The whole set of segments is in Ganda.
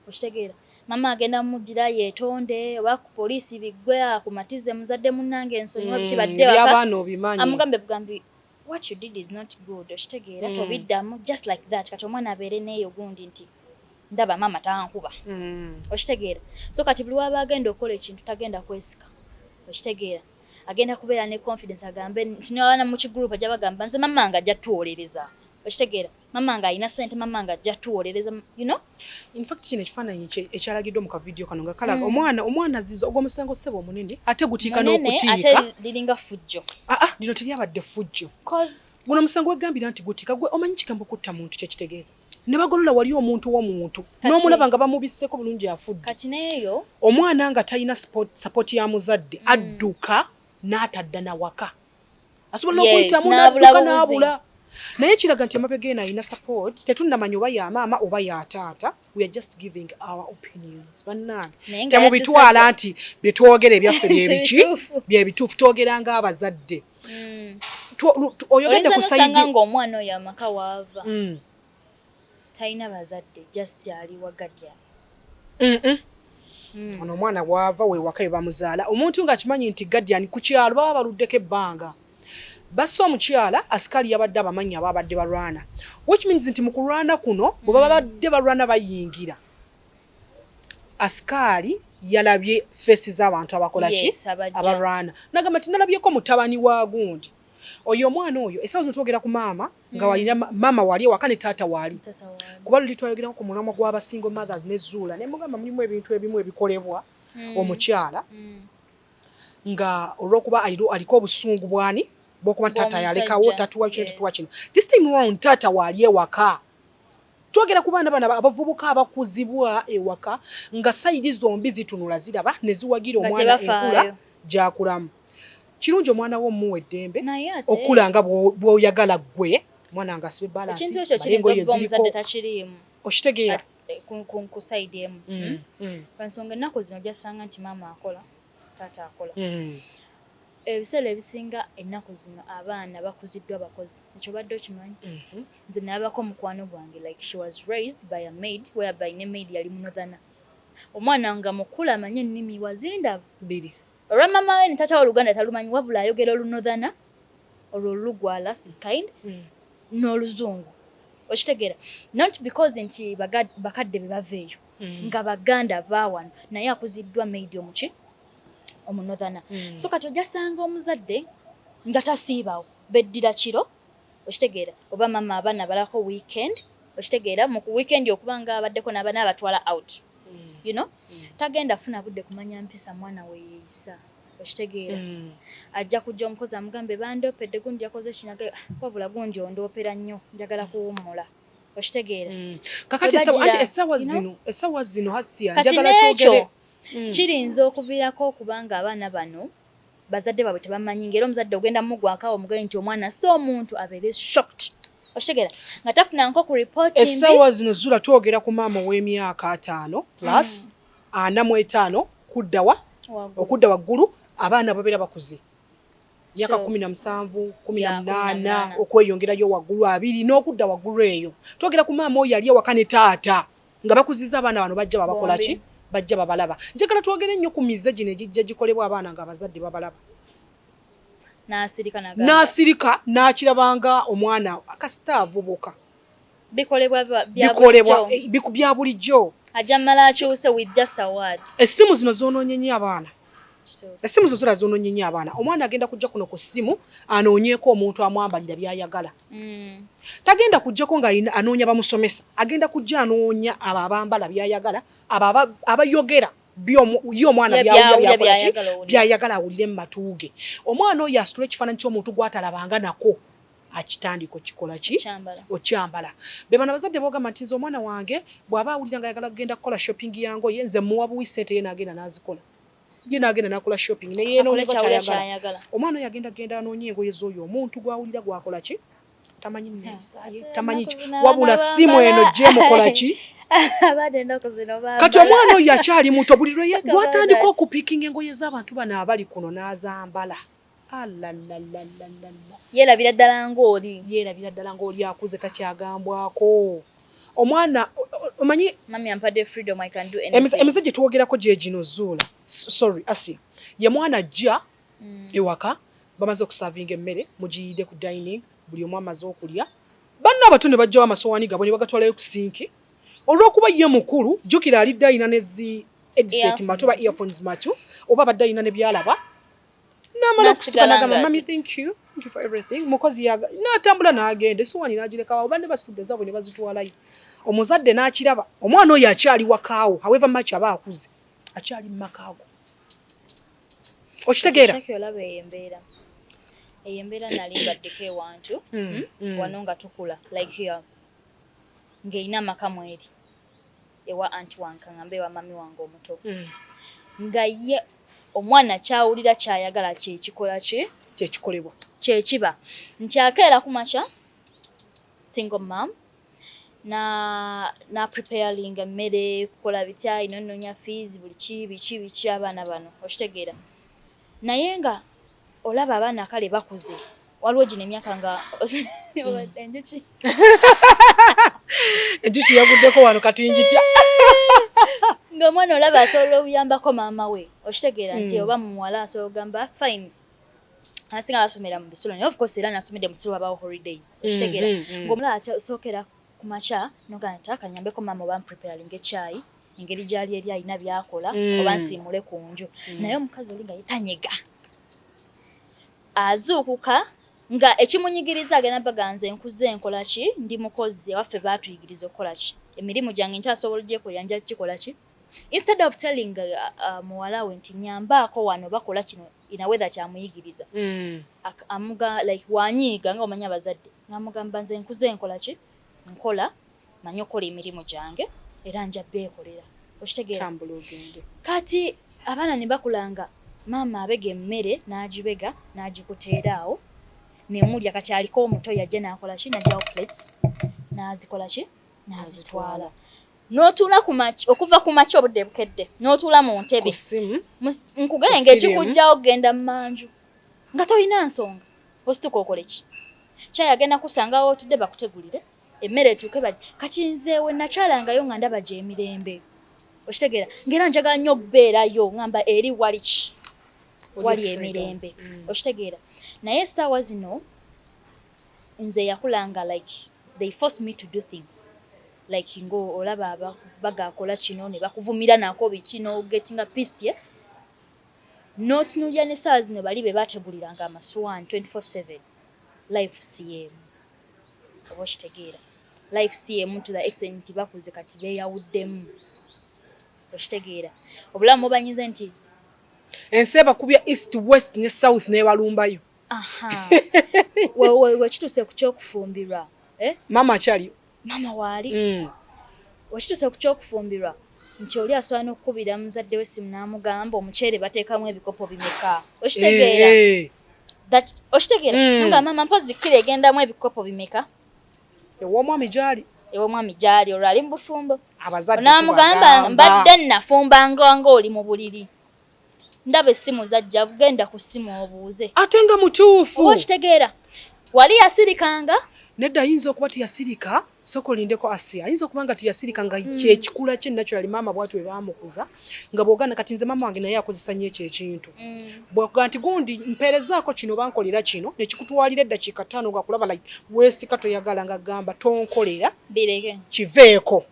Okitegeera. Mama agenda mujira yetonde oba ku police bigwe akumatize muzadde munange nsonyiwa biki badde waka. Byabana obimanyi. Amugambe bugambi what you did is not good. Okitegeera mm. tobiddamu just like that kati omwana abeere neyo gundi nti ndaba mama tankuba. Mm. Okitegeera. So kati buli waba agenda okola ekintu tagenda kwesika. Okitegeera. Agenda kubeera ne confidence agambe nti nawana mu kigroup ajabagamba nze mama nga jatuwolereza. Okitegeera. mama nga alina sente mama nga ajja tuwolereza you know in fact kino ekifaananyi ekyalagiddwa mu kavidiyo kano nga kalaga mm. omwana omwana ziza ogwo omusango ssebo omunene ate gutiika n'okutiika liringa fujjo aa ah, ah, lino teryabadde fujjo guno omusango wegambira nti gutiika gwe omanyi kigambo kutta muntu kyekitegeeza ne bagolola wali omuntu w'omuntu n'omulaba nga bamubisseeko bulungi afudde kati neeyo omwana nga talina sapooti ya muzadde mm. adduka n'atadda na waka asobola n'okuyitamu n'adduka n'abula naye kiraga nti emabega eno alina support tetunnamanya oba ya maama oba ya taata we are just giving our opinions bannange temubitwala nti bye twogera ebyaffe byebiki byebituufu twogera ng'abazadde mm. oyogedde ku sayidi omwana oyo amaka waava mm. Talina bazadde just ali wa guardian. Mm-mm. Mm. Ono omwana waava wewaka webamuzaala omuntu nga akimanyi nti guardian ku kyalo baba baluddeko ebbanga basa omukyala asikali yabadde abamanyi ababadde balwana which means nti mu kulwana kuno bwe baba mm. badde balwana bayingira asikaali yalabye feesi z'abantu abakola ki abalwana nagamba nti nalabyeko mutabani wa gundi oyo omwana oyo esawa zino twogera ku maama nga walina mama wali ewaka ne taata wali kuba luli twayogerako ku mulamwa gwaba single mothers ne zuula ne mugamba mulimu ebintu ebimu ebikolebwa hmm. omukyala hmm. nga olwokuba aliko obusungu bwani bwokuba taata yalekawo tatuwa kino tatuwa kino this time round taata wali ewaka twogera ku baana bana abavubuka abakuzibwa ewaka nga sayidi zombi zitunula ziraba ne ziwagira omwana enkula gyakulamu Kirungi omwana wo omuwa eddembe okula nga bw'oyagala ggwe omwana nga asibe balansi ekintu ekyo kiyinza okuba omuzadde takiriimu okitegeera eh, ku sayidi emu mm, hmm? mm. lwansonga ennaku zino jasanga nti maama akola taata akola mm. ebiseera ebisinga ennaku zino abaana bakuziddwa bakozi ekyo badde okimanyi mm-hmm. nze nabako mukwano gwange like she was raised by a maid whereby ne maid yali munodhana omwana nga mukulu amanye ennimi wazindaba olwa mama we ne tata wa luganda talumanyi wabula ayogera olunothana olwo olulugwala kind mm. n'oluzungu okitegeera not because nti bakadde be bava eyo mm. nga baganda bawano naye akuziddwa maid omuki omunothana mm. so kati ojasanga omuzadde nga tasiibawo beddira kiro okitegeera oba mama abaana abalako weekend okitegeera mu weekend okuba nga abaddeko nabana abatwala out you know tagenda funa budde kumanya mpisa mwana weyeyisa okitegeera mm. ajja kujja omukozi amugambe bandopedde gundi yakoze kinaga ah, wabula gundi ondopera nnyo njagala kuwummula okitegeera mm. kakati esawa zino esawa zino hasiya njagala twogere mm. kiyinza okuviirako okubanga abaana bano bazadde babwe tebamanyi ngera omuzadde ogenda mugwako awo mugaye nti omwana si omuntu abeere shocked oshegera nga tafuna nko ku report mbi esawa zino zula twogera ku maama ow'emyaka ataano plus mm. ana mu etaano kuddawa okudda waggulu abaana babeera bakuze myaka kumi na musanvu kumi na munaana okweyongerayo waggulu abiri n'okudda waggulu eyo twogera ku maama oyo yali awaka ne taata nga bakuziza abaana bano bajja babakola ki bajja babalaba njagala twogere nnyo ku mize gino egijja gikolebwa abaana nga abazadde babalaba n'asirika n'akirabanga omwana kasita avubuka bikolebwa bya bulijjo essimu zino zonoonye nnyo abaana Essimu zo zira zoononye nnyo abaana. Omwana agenda kujja kuno ku ssimu anoonyeeko omuntu amwambalira by'ayagala. Mm. Tagenda kujjako nga anoonya bamusomesa, agenda kujja anoonya abo abambala by'ayagala, abo abayogera ye omwana by'ayagala awulire mu matu ge. Omwana oyo asitula ekifaananyi ky'omuntu gw'atalabanga nako. akitandika okikola ki okyambala bebana bazadde bogamba nti nze omwana wange bwaba awulira nga ayagala kugenda kukola shopping ya ngoye nze muwa buwi sente ye nagenda nazikola ye nagenda nakola shopping neyenokyayagala omwana oyo agenda genda anoonya engoye z'oyo omuntu gwawulira gwakola ki tamanyi nesaye tamanyi ki wabula simu eno gyemukola ki kati omwana oyo akyali muto buli lwatandika okupikinga engoye z'abantu bano abali kuno n'azambala Alalalalala. Yeerabira ddala ng'oli. Yeerabira ddala ng'oli akuze takyagambwako. Omwana omanyi. Mummy ampadde freedom I can do anything. Emize gye twogerako gye gino Zuula. Sorry Asia. Ye mwana ajja mm. ewaka bamaze okusavinga emmere mugiyidde ku dining buli omu amaze okulya banna abato ne bajjawo amasowaani gabwe ne bagatwalayo ku sinki olw'okuba ye mukulu jjukira alidde alina nezi edset matu oba earphones matu oba abadde alina ne byalaba namala okusituka nagamba mami thank you mukozi natambula nagenda esuwani nagirekawo banne basitudde zabwe ne bazitwalayo omuzadde nakiraba omwana oyo akyali wakaawo however much aba akuze akyali mu makaago okitegeera eyo embeera nali mbaddeko ewantu hmm, hmm, hmm. wano nga tukula like here ng'erina amaka mweri ewa anti wange kaŋambe ewa mami wange omuto mm. nga ye omwana kyawulira kyayagala kyekikola ki kyekikolebwa kyekiba nti akeera ku makya single mam na na preparing emmere kukola bitya ino nnonya fees buli ki biki biki abaana bano okitegeera naye nga olaba abaana kale bakuze waliwo gino emyaka nga mm. enjuki enjuki yaguddeko wano kati njitya ng'omwana olaba asobola okuyambako maama we okitegeera nti mm. oba muwala asobola okugamba fine asinga basomera mu bisulo naye ofcourse era nasomedde mu bisulo wabawo holidays mm, okitegeera ng'omulala asookera Ku makya nogamba nti taata nnyambeko maama oba ampulipeyalinge ekyayi engeri gy'ali eri alina by'akola mm. oba nsiimule ku nju mm. naye omukazi oli nga yetanyega azuukuka nga ekimunyigiriza agenda baganze nkuze nkola ki ndi mukozi abaffe baatuyigiriza okukola ki emirimu gyange nkyasobola gyekoya nja kikola ki instead of telling uh, uh, muwala we nti nyambaako wano bakola kino ina wether kyamuyigiriza mm. amuga like wanyiiga nga omanya abazadde ngamugamba nze nkuze nkola ki nkola manyi okukola emirimu gyange era nja beekolera okitegeera kati abaana ne bakulanga maama abega emmere n'agibega n'agikuteera awo nemulya kati aliko omuto yajja n'akola ki najjawo plates n'azikola ki nazitwala n'otuula okuva ku makya obudde bukedde n'otuula mu ntebe nkugee nga ekikujjawo kugenda mu manju nga tolina nsonga osituka okole ki kyayi agenda kusangawo otudde bakutegulire emmere etuuke bali kati nzeewe nakyalangayo nga ndaba gyemirembe okitegeera ngaera njagala nnyo okubeerayo ngamba eri wali ki wali emirembe mm. okitegeera naye essaawa zino Nze yakula nga like they force me to do things like nga olaba baga kola kino ne bakuvumira nako biki no gettinga pissed yeah notunulira ne sawa zino bali be bategulira nga amaswan 24/7 life siyemu oba okitegeera life siyemu to the extent nti bakuze kati beyawuddemu okitegeera obulamu banyinze nti ensi ebakubya east west ne south nebalumbayo wekituuse ku kyokufumbirwa eh? maama akyaliyo maama waali mm. wekituuse ku kyokufumbirwa nti oli asobola n'okukubira muzadde we simu n'amugamba omuceere bateekamu ebikopo bimeka okitegeera eh, eh. okitegeera mm. nga maama mpozi kkira egendamu ebikopo bimeka ew'omwami gyali ew'omwami gyali olwo ali mu bufumbo onamugamba mbadde nafumba nga oli mu buliri ndaba essimu zajja genda ku ssimu obuuze ate nga mutuufu oba okitegeera wali yasirikanga nedda ayinza okuba tiyasirika sooka olindeko asi ayinza okuba nga tiyasirika nga hmm. kyekikula kye naturali maama bwati we baamukuza nga bwogana kati nze maama wange naye akozesa nnyo ekyo ekintu hmm. bwakuga nti gundi mpeerezaako kino bankolera kino nekikutwalira eddakiika ttaano nga kulaba like weesika toyagala nga gamba tonkolera kiveeko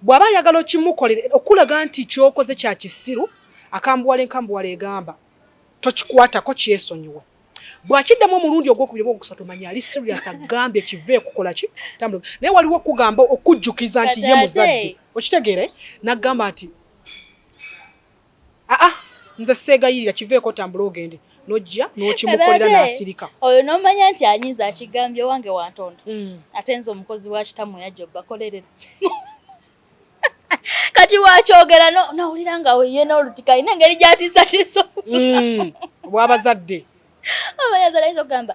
Bw'aba ayagala okimukolere okulaga nti ky'okoze kya kisiru, akambuwala enkambuwala egamba tokikwatako kyesonyiwe. Bw'akiddamu omulundi ogwokubiri oba ogwokusatu omanya ali siriyasi agambye kive kukola ki tambula. Naye waliwo okugamba okujjukiza nti ye muzadde okitegeere n'agamba nti aa nze seegayirira kiveeko otambule ogende nojja nokimukolera nasirika oyo nomanya nti anyinza akigambye wange wantonda mm. ate nze omukozi wa kitamu yajja obakolerera kati wakyogera nawulira nga yena olutika ina engeri gyatiisatiisa mm. wabazadde abayazala yinza okugamba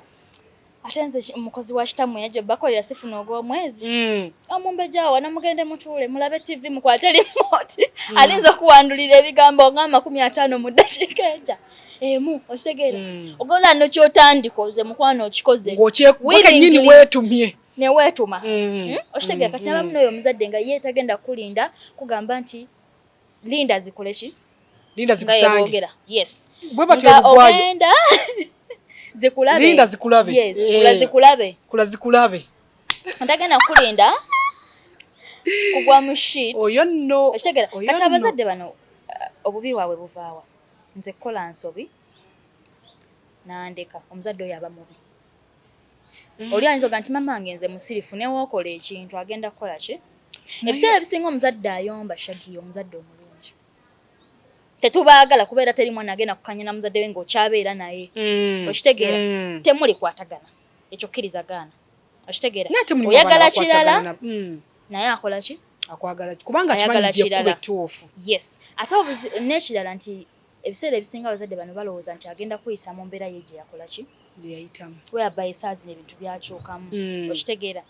ate nze mukozi wa kitammwe yajja bakolera sifuna ogw'omwezi hmm. omumbejja awa namugende mutuule mulabe ttivi mukwate limooti hmm. alinza okuwandulira ebigambo nga amakumi ataano mu ddakiika eja emu okitegeera hmm. ogola no kyotandikoze mukwano okikoze ngokyenyini weetumye neweetuma hmm? okitegeera kati abamu n'oyo omuzadde nga ye tagenda kukulinda kugamba nti linda zikole ki Linda zikusange. Yes. Bwe batyo lugwayo. Ogenda. Zikulabe. Linda zikulabe. Yes. Eh. Kula zikulabe. Kula zikulabe. Ndagenda kulinda. Kugwa mu sheet. Oyo no. Oshegera. Kati abazadde bano uh, obubi wawe buvaawa. Nze kola nsobi. Nandeka. Omuzadde oyo aba mubi. Mm. oli ayinza oga nti mama wange nze musirifu newookola ekintu agenda kukola ki ebiseera ebisinga omuzadde ayomba shagiya omuzadde omulungi tetubaagala kuba era teri mwana agenda kukanya na muzadde we ngaokyabeera naye mm. okitegeera mm. temuli kwatagana ekyo kkiriza gaana okitegeera oyagala kirala naye akola ki akwagala kubanga ayagala kirala yes ate nekirala nti Ebiseera ebisinga abazadde bano balowooza nti agenda kweyisa mu mbeera ye gye yakola ki? Gye yayitamu. Whereby esaazino ebintu byakyukamu. Mm. Okitegeera?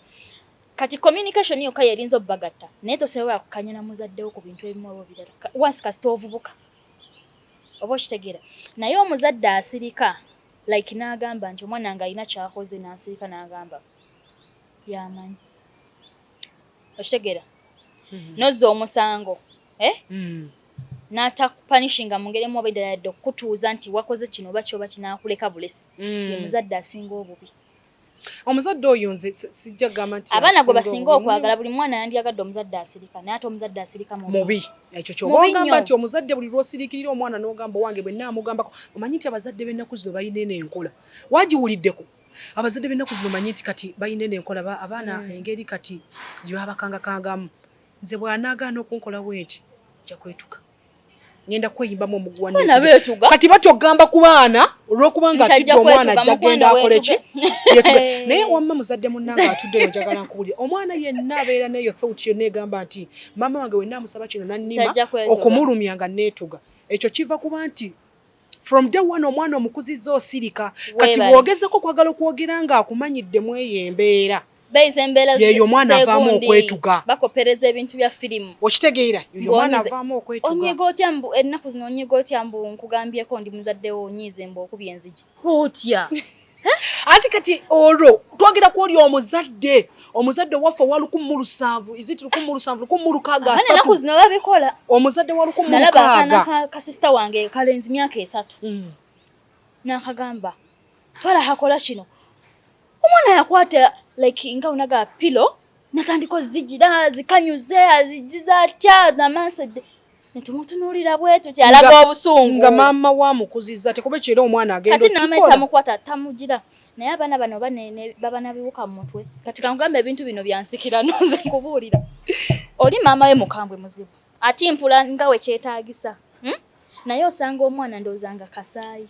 Kati communication yokka y'erinza obbagatta naye tosobola kukanya na muzadde wo ku bintu ebimu oba ebirala once kasita ovubuka. Oba okitegeera? Naye omuzadde asirika like n'agamba nti omwana nga alina kyakoze n'asirika n'agamba yamanyi. Okitegeera? Mm-hmm. Nozza omusango. Eh? Mm. n'atakupanishinga mu ngeri emu oba eddala yadde okukutuuza nti wakoze kino oba kyoba kinaakuleka bulesi mm. ye muzadde asinga obubi omuzadde oyo nze sijja gamba nti abaana gwe basinga okwagala buli mwana yandyagadde omuzadde asirika naye ate omuzadde asirika mubi ekyo kyobagamba nti omuzadde buli lwosirikirira omwana n'ogamba owange bwe naamugambako omanyi nti abazadde b'ennaku zino balina eno enkola wagiwuliddeko abazadde b'ennaku zino manyi nti kati balina eno enkola abaana mm. engeri kati gye babakangakangamu Nze bw'anaagaana okunkola bwenti nja kwetuka ngenda kweyimbamu omuguwa kati batya okugamba ku baana olw'okuba nga atidde omwana ajja genda akole ki naye wamma muzadde munnange atuddeyo njagala nkubulira omwana yenna abeera neeyo thought yonna egamba nti maama wange wenna amusaba kino nannima okumulumya nga neetuga ekyo kiva kuba nti from day one omwana omukuzizza osirika kati bwogezako kwagala okwogera nga akumanyidde mweyo embeera beize embeera yeyo omwana avaamu okwetuga bakopereza ebintu bya firimu okitegeera yoyo omwana avaamu okwetuga onyiga otya mbu ennaku zino onyiga otya mbu nkugambyeko ndi muzadde wo onyiize mbu okubya enzigi otya anti kati olwo twagera ku oli omuzadde omuzadde waffe owa lukumu mu lusanvu iziti lukumu mu lusanvu lukumu mu lukaaga asatu zino babikola omuzadde wa lukumu mu lukaaga nalaba akaana kasisita wange kalenzi myaka esatu mm. nakagamba twala hakola kino omwana yakwata like nga unaga pilo natandika ozigira azikanyuze azigiza atya namansedde netumutunuulira bwetu kyalaga obusungu nga maama wa mukuziza tekube kyera omwana agendatamukwaata tamugira naye abaana bano baba nabiwuka mu mutwe kati kangamba ebintu bino byansikira nonze kubuulira oli maama we mukambwe muzibu ati mpula nga wekyetagisa hmm? naye osanga omwana ndowoza nga kasaayi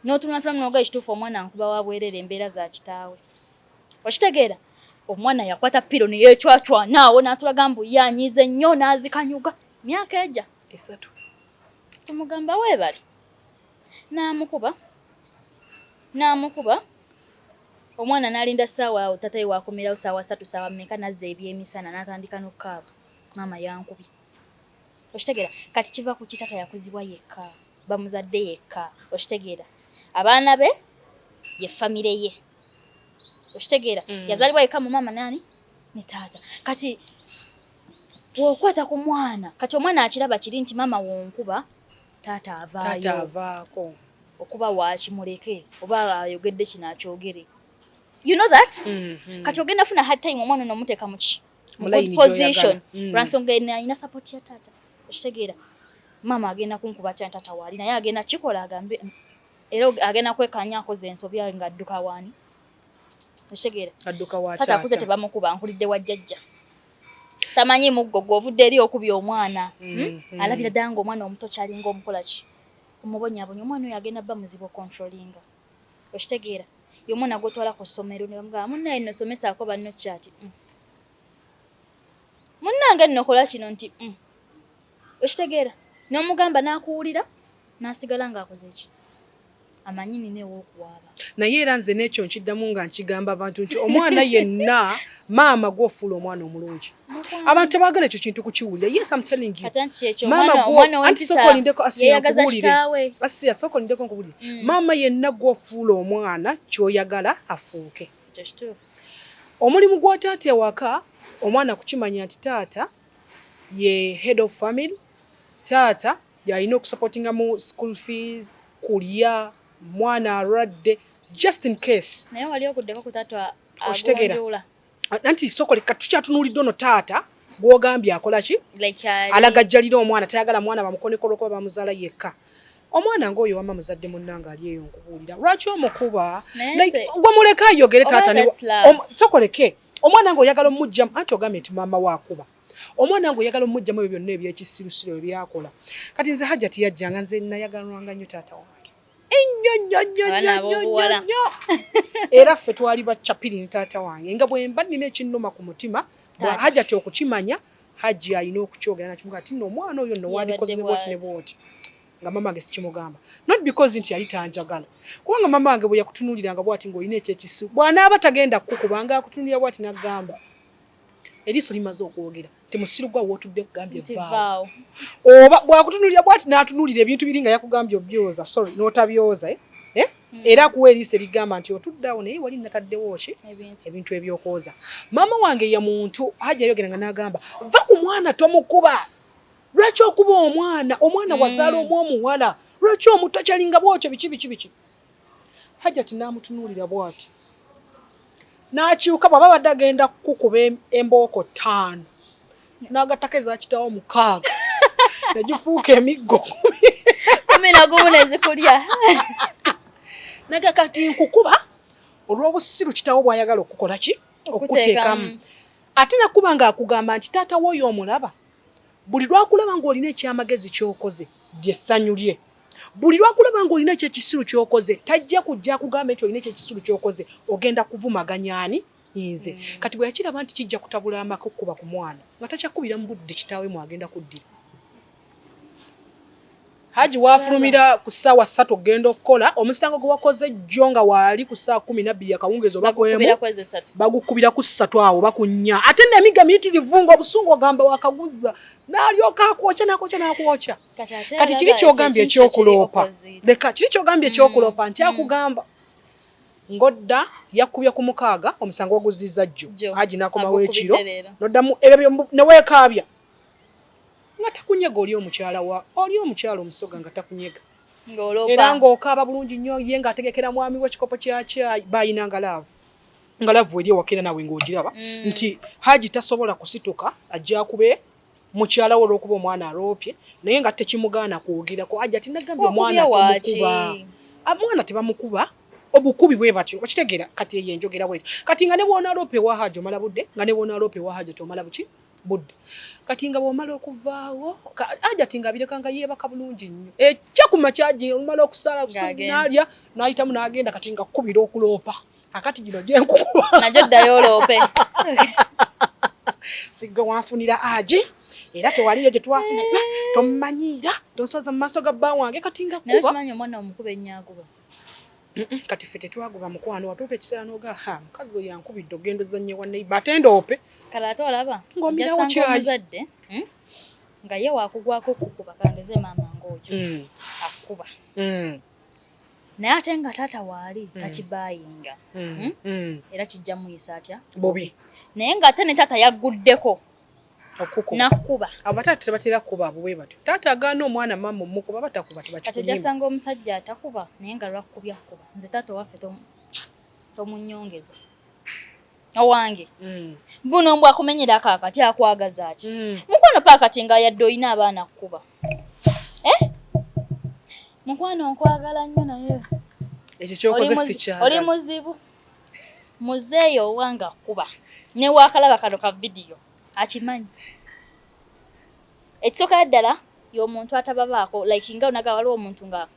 n'otunulatunula n'oga ekituufu omwana nkuba wa bwerere embeera za kitaawe okitegeera omwana yakwata piro ne yeecwacwana awo n'atulaga mbu ye anyiize nnyo n'azikanyuga myaka egya esatu tumugamba weebale n'amukuba n'amukuba omwana n'alinda ssaawa awo tataye wakomerawo ssaawa satu ssaawa mmeka n'azza ebyemisana n'atandika n'okukaaba maama yankubye okitegera kati kiva ku kitata yakuzibwa yekka bamuzadde yekka okitegera abaana be ye famire ye okitegera mm. yazalibwa yekka mu maama nani ne taata kati wokwata ku mwana kati omwana akiraba kiri nti maama wonkuba taata avaayoavaako okuba wakimuleke oba ayogedde kino akyogere you know that mm -hmm. kati ogenda funa hard time omwana nomuteeka muki position mm. lwansonga alina support ya taata okitegeera maama agenda kunkuba tya taata waali naye agenda kikola agambe era agenda kwekanya akoze ensobi nga adduka waani okitegeera taata akuze tebamukuba nkulidde wa jjajja tamanyi muggo gwovudde eri okubya omwana mm, hmm? mm. alabira ddala nga omwana omuto kyalinga omukolaki omubonyabonya omwana oyo agenda bba muzibu okontrolinga Okitegeera? Ye omwana gw'otwala ku ssomero ne bamugamba munnaaye nno somesaako banno ki ati mm. Munnange nno kola kino nti mm. Okitegeera? N'omugamba n'akuwulira n'asigala ng'akoze ki? amanyi nina ew'okuwaaba naye era nze n'ekyo nkiddamu nga nkigamba abantu nti omwana yenna maama gwe ofuula omwana omulungi abantu tebagala ekyo kintu kukiwulira yes am telling you maama gweanti sooka olindeko asiyakubuulire asiya sooka olindeko nkubuulire mm. maama yenna gwofuula omwana kyoyagala afuuke omulimu gwa taata ewaka omwana kukimanya nti taata ye head of family taata yalina okusupportinga mu school fees kulya mwana alwadde just in case naye wali okuddeko ku taata okitegeera nanti sokole katukyatunulidde ono taata gwogambye akola ki alagajjalira omwana tayagala mwana bamukonekolo okuba bamuzaala yekka omwana ngaoyo wama muzadde munnanga ali eyo nkubuulira lwaki omukuba gwe muleke ayogere taata sokoleke omwana nga oyagala omujjamu anti ogambye nti maama wakuba omwana nga oyagala omujjamu ebyo byonna ebyekisirusiru ebyakola kati nze hajjati yajjanga nze nayagalwanga nnyo taata wange ennyo nnyo nnyo nnyo nnyo nnyo era ffe twali bacapiri ne taata wange nga bwe mba nnina ekinnuma ku mutima hajati okukimanya hajji alina okukyogera nakimuga ati no omwana oyo no wandikoze ne bwoti ne bwoti nga mama wange sikimugamba not because nti yali tanjagala kubanga mama wange bwe yakutunuuliranga bwati ng'olina ekyekisu bw'anaaba tagenda kukubanga akutunuulira bwati n'agamba eriiso limaze okwogera nti musiru gwa wotudde kugambye vaawo oba bwakutunulira bwati n'atunulira ebintu biri nga yakugambye obyoza sorry n'otabyoza eh? Eh? Hmm. era kuwa eriiso erigamba nti otuddawo naye wali nataddewo ki ebintu ebyokwoza maama wange ye muntu hajja yayogera nga n'agamba va ku mwana tomukuba lwaki okuba omwana omwana hmm. wazaala omu omuwala lwaki omuto kyalinga bwotyo biki biki biki Hajati n'amutunuulira bw'ati n'akyuka bw'aba abadde agenda kukukuba embooko ttaano n'agattako eza kitaawo mukaaga ne gifuuka emiggo kumi na gumu ne zikulya naga kati nkukuba olw'obusiru kitaawo bw'ayagala okukukola ki okukuteekamu ate nakuba nga akugamba nti taata wooyo omulaba buli lwakulaba ng'olina ekyamagezi ky'okoze lyessanyu lye Buli lwakulaba nga olina ekyekisiru kyokoze tajja kujja kugamba nti olina ekyekisiru kyokoze ogenda kuvumaganya ani nze mm. kati bwe yakiraba nti kijja kutabula amaka okukuba ku mwana nga takyakubira mu budde kitaawe mwagenda kuddira haji wafulumira ku ssaawa ssatu okugenda okukola omusango gwe wakoze jjo nga waali ku ssaawa kumi nabbiri akawungeezi oba kwemu bagukubira ku ssatu awo oba ku nnya ate nemiga miyitirivu nga obusungu ogamba wakaguza n'alyoka akwokya nakwokya nakwokya kati kiri kyogambye ekyokuloopa leka kiri kyogambye ekyokuloopa mm. nti mm. akugamba ngodda yakubye ku mukaaga omusango oguzizza jjo aji nakomawo ekiro noddamu ebyo newekaabya nga takunyega oli omukyala wa oli omukyala omusoga nga takunyega era ng'okaaba bulungi nnyo ye ng'ategekera mwami we ekikopo kya kyayi bayina nga laavu nga laavu eri ewakera nawe ng'ogiraba mm. nti haji tasobola kusituka ajja kube mukyala we olwokuba omwana aloopye naye nga tekimugaana kwogerako ajati nagambye omwana temukuba omwana tebamukuba obukubi bwe batyo okitegeera kati eyo enjogera bwetyo kati nga ne bwonaloopa ewa haja omala budde nga ne bwonaloopa ewa haja tomala buki budde kati nga bwomala okuvaawo ajati nga abireka nga yeebaka bulungi nnyo ekya ku makyaji olumala okusala nalya nayitamu nagenda kati nga kukubira okuloopa akati gino gyenkukuba najo ddayo oloope sigga wanfunira agi era tewaliyo gye twafuna tomumanyiira tonswaza mu maaso ga bba wange kati nga kuba naye okimanyi omwana omukuba ennyakuba kati ffe tetwagoba mukwano watuuka ekiseera noga ha mukazi oyo yankubidde ogenda ozannye wa neiba ate ndoope kale ate olaba ng'omirawo kyayizadde hmm? nga ye wakugwako kukuba kangeze maama ng'oyo hmm. akukuba hmm. naye ate nga taata waali mm. takibayinga mm. hmm? mm. era kijja muyisa atya bobi naye nga ate ne taata yagguddeko nakuba abataata tebatera kuba abo bwe batyo taata agaana omwana maama omukuba batakuba tebakijasanga omusajja atakuba naye nga lwakukubya kukuba nze taata owaffe tomunyongeza owange mm. mbuno mbwa kumenyera kakati akwagaza ki mm. mukwano pakati nga yadde olina abaana kukuba eh? mukwano nkwagala nnyo naye ekyo kyokoze sikyagala oli muzibu muzeeyo owange akuba newakalaba kano ka vidiyo akimanyi ekisooka ddala yomuntu atababaako like nga onaga waliwo omuntu nga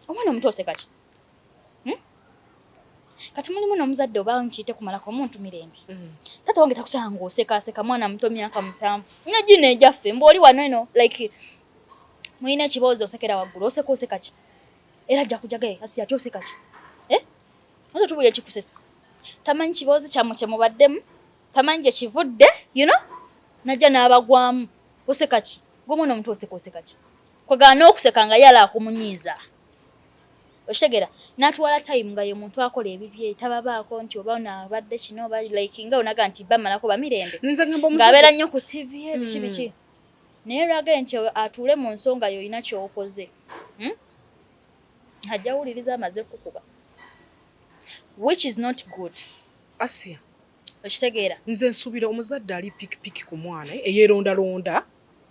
omwana omutu osekaki Hmm? Kati mulimu n'omuzadde oba nkiyite kumalako omuntu mirembe. Hmm. Taata wange takusanga ng'osekaaseka mwana muto myaka musanvu. Nga gino egyaffe mbu oli wano eno like mulina ekiboozi osekera waggulu oseka oseka ki? Era ajja kujaga ye asi ati oseka ki? Eh? Ozo tubuye ekikusesa. Tamanyi kiboozi kyammwe kye mubaddemu. Tamanyi gye kivudde you know? Najja n'abagwamu oseka ki? Gwe mwana omuto oseka oseka ki? Kwegana n'okuseka nga yala akumunyiiza. okitegera natwala time nga yomuntu akola ebibye tababaako nti oba ono abadde kino oba like nga onaga nti bamalako bamirembe ngaabeera nnyo ku tv ebiki hmm. biki naye lwage nti atuule mu nsonga yo olina kyokoze hmm? ajja wuliriza amaze kukuba which is not good asia okitegeera nze nsubira omuzadde ali pikipiki ku mwana eyerondalonda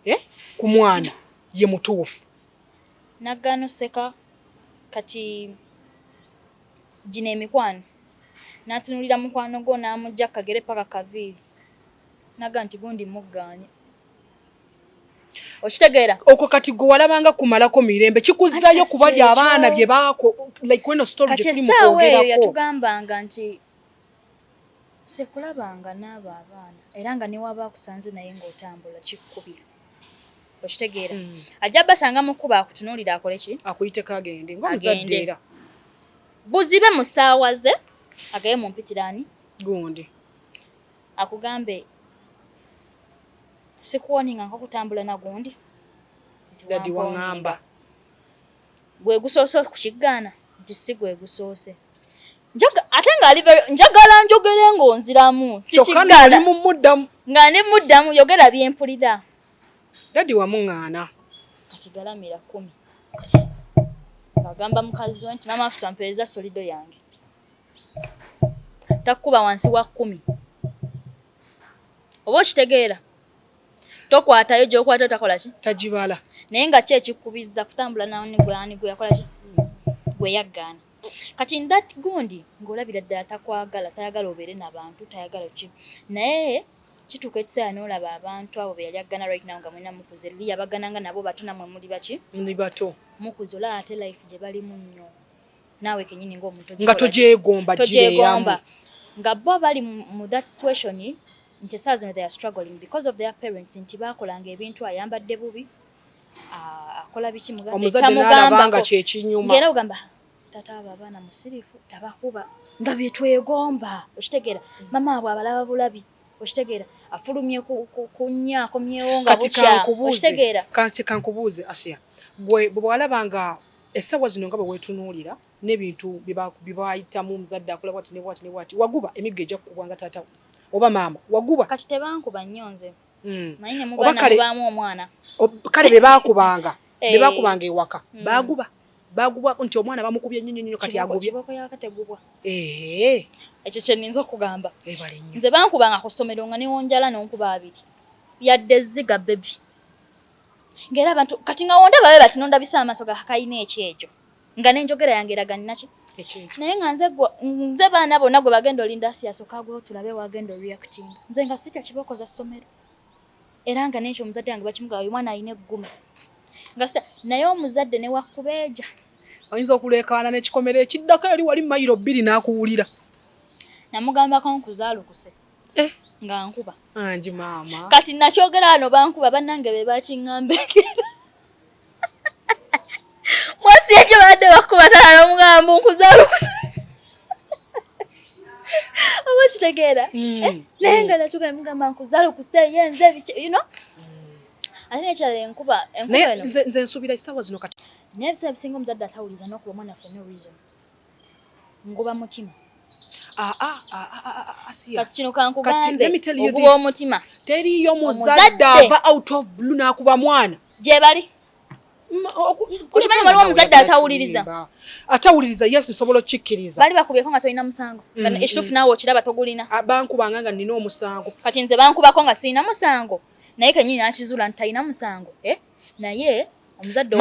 eh? ku mwana ye mutuufu Nagaana oseka kati gino emikwano natunulira mukwano gwo namujja kukagere paka kukaviiri nagamba nti gundi muggaanye okitegeera okwo kati gwe walabanga kumalako mirembe kikuzzayo kubalya abaana bye baako like weno story gye tuli mu kwogerako kati essaawa eyo yatugambanga nti Ssekulaba nga n'abo abaana era nga ne w'aba akusanze naye ng'otambula kikkubya. Okitegeera? Ajja basanga mu kkubo akutunuulire akole ki? Akuyiteko agende ng'omuzadde era. Buzibe mu ssaawa ze agabe mu mpitiraani. Gundi. Akugambe sikuwoninga nko kutambula na gundi. Dadi wangamba. Gwe gusoose okukiggaana nti si gwe gusoose. ate nga ali njagala njogere ng'onziramu sikiggala nga ndi muddamu yogera byempulira dadi wamuŋŋaana kati galamira kumi agamba mukazi we nti maama afusa mpeereza solido yange takkuba wansi wa kumi oba okitegeera tokwatayo gyokwata otakola ki tagibala naye nga ki ekikubizza kutambula nani gwe yakola ki gwe yaggaana Kati in that gundi ng'olabira ddala takwagala, tayagala obeere na bantu, tayagala ki. Naye kituuka ekiseera n'olaba abantu abo be yali aggana right now nga mulina mukuze, luli yabagana nga nabo bato namwe muli baki? Muli bato. Mukuze olaba ate life gye balimu nnyo. Naawe kenyini ng'omuntu nga togyegomba gibeeramu. Nga bo bali mu that situation nti essaawa zino they are struggling because of their parents nti baakolanga ebintu ayambadde bubi, Ah, akola biki mugambe omuzadde n'alaba nga kyekinyuma ngera ogamba tata abo abaana musirifu tabakuba nga byetwegomba okitegeera mama abwe abalaba bulabi okitegeera afulumye kunya akomyewo nga bukyakitegeera kati kankubuuze asiya gwe bwewalaba nga esawa zino nga bwewetunuulira n'ebintu byebayitamu omuzadde akola bwati nebwati nebwati waguba emiggo ejja kukubwa nga tata oba maama waguba kati tebankuba nnyo nze mm. oba kale kale bebakubanga eh. bebakubanga ewaka mm. baguba baguba nti omwana bamukubye nnyo nnyo kati agubye ekyo kyeninza okugamba nze bankubanga ku ssomero nga newonjala nonkuba abiri yadde ziga bebi ngaera abantu kati nga wonda babe bati nondabisa amaaso gakakayina ekyejo nga nenjogera yange eraganiraki naye nga nze nze baana bonna gwe bagenda olinda siyasoka agwewo tulabe wagenda oreacting nze nga sitya kibooko za ssomero era nga nekyo omuzadde wange bakimugaa oyo mwana alina egguma nga naye omuzadde newakubeeja ayinza okuleekaana nekikomera ekiddako eri wali mayiro bbiri n'akuwulira namugambako nkuzaalukuse eh. nga nkuba angi maama kati nakyogera wano bankuba bannange be bakiŋŋambekera mwasi ekyo badde bakubatala nomugambo nkuzaala okusa oba okitegeera hmm. eh, naye nga nakyogera mugamba nkuzaala okusa ye nze ebiki you know ate nekyala enkuba enkuba nze nsubira ekisawa zino kati naye ebiseera bisinga omuzadde atawuliza nokuba omwana for no reason ngoba mutima ah, ah, ah, kati kino kankugambe oguba omutima teriyo muzadde ava out of blue nakuba mwana gyebali okimanyi waliwo omuzadde atawuliriza atawuliriza yesu nsobola okikkiriza bali bakubyeko nga tolina musango mm, ekituufu mm. naawe okiraba togulina bankubanga nga nina omusango kati nze bankubako nga sirina musango naye kenyini nakizuula nti talina musango eh? naye omuzadde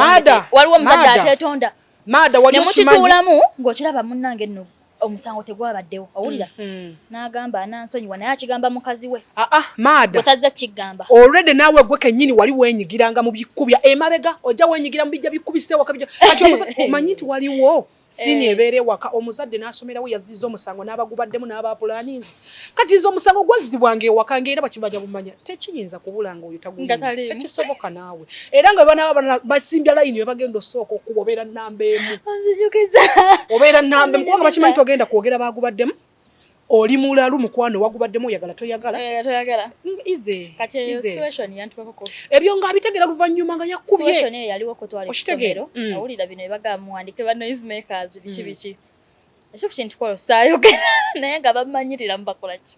waliwo omuzadde atetonda maada wali nemukituulamu ng'okiraba munnange nno omusango tegwabaddewo owulira mm, mm. n'agamba anansonyiwa naye akigamba mukazi we aa ah, ah, maada otazza kigamba olredi naawe gwe kennyini wali wenyigiranga mu bikubya emabega ojja wenyigira mu bijja bikubisewaka kati omanyi nti waliwo sini eh. ebeera ewaka omuzadde n'asomerawo yaziza omusango n'abagubaddemu n'abapulaninzi kati nze omusango gwazitibwanga ewaka nga era bakimanya bumanya tekiyinza kubula nga oyo tagutekisoboka naawe era nga bana basimbya layini bebagenda osooka okuba obeera namba emu obeera namba emu kubanga bakimanyi togenda kwogera bagubaddemu oli mulalu mukwano wagubaddemu oyagala toyagala eh, ebyo nga abitegera luvannyuma nga yakubyeyaliwo kutwala ekisomero mm. awulira bino ebaga muwandike ba noise makers biki mm. biki ekyo ku kintu kwolo saayogera naye nga bamanyirira mubakola ki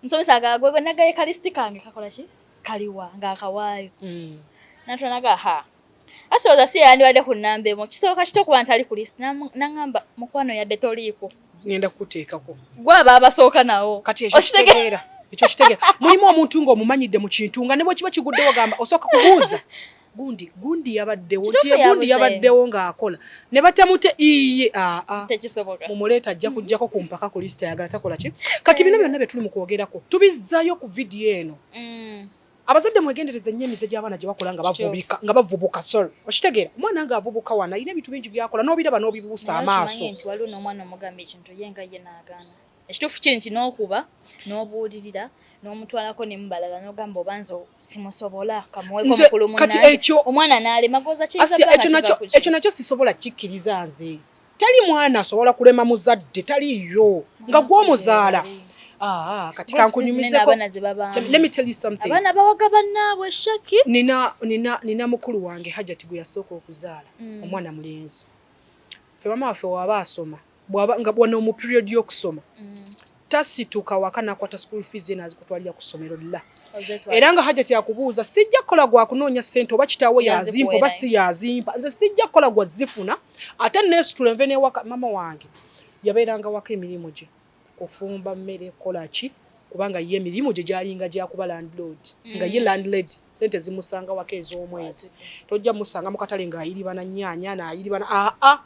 musomesa agagwegwe nagaye kalisiti kange kakola ki kaliwa ngaakawaayo mm. natwanaga ha asooza si yeyandibadde ku namba emu kisooka kito kuba ntali ku lisiti nangamba mukwano yadde toliiko ngenda kuteekako gwaba abasooka nawo kati ekyo kitegeera ekyo kitegeera mulimu omuntu ng'omumanyidde mu kintu nga ne bwekiba kiguddewo gamba osooka kubuuza gundi gundi yabaddewo nti gundi yabaddewo ng'akola ne batamute iye aa ah, ah. tekisoboka mumuleeta ajja kujjako ku mpaka ku lisita yagala takola ki kati bino byonna bye tuli mu kwogerako tubizzaayo ku vidiyo eno mm. abazadde mwegendereze nnyo emize gy'abaana gye bakola nga bavubika nga bavubuka sorry okitegeera omwana nga avubuka wana alina ebintu bingi by'akola n'obiraba n'obibuusa amaaso nti waliwo n'omwana omugamba ekintu ye nga ye n'agaana Ekituufu kiri nti n'okuba n'obuulirira n'omutwalako ne mubalala n'ogamba oba nze simusobola kamuweeko mukulu munange omwana n'alema goza kiyinzaekyo nakyo sisobola kikkiriza nze tali mwana asobola kulema muzadde taliyo nga gw'omuzaala Ah, kati kankunyumizeko let me tell you something abana bawaga banaabwe shaki nina nina nina mukulu wange hajati gwe yasooka okuzaala mm. omwana mulenzi ffe mama waffe waba asoma bwaba nga wano mu period y'okusoma tasituka waka nakwata school fees ye nazikutwalira ku ssomero la era nga hajati akubuuza sijja kukola gwa kunoonya sente oba kitaawo yazimpa oba si yazimpa nze sijja kukola gwa zifuna ate nesitula nve newaka mama wange yabeeranga waka emirimu gye kufumba mmere kukola ki kubanga ye emirimu gye gyalinga gyakuba landlord mm. nga ye landlord sente zimusanga waka ez'omwezi tojja musanga mu katale ng'ayiribana nyaanya naayiribana aa ah, ah.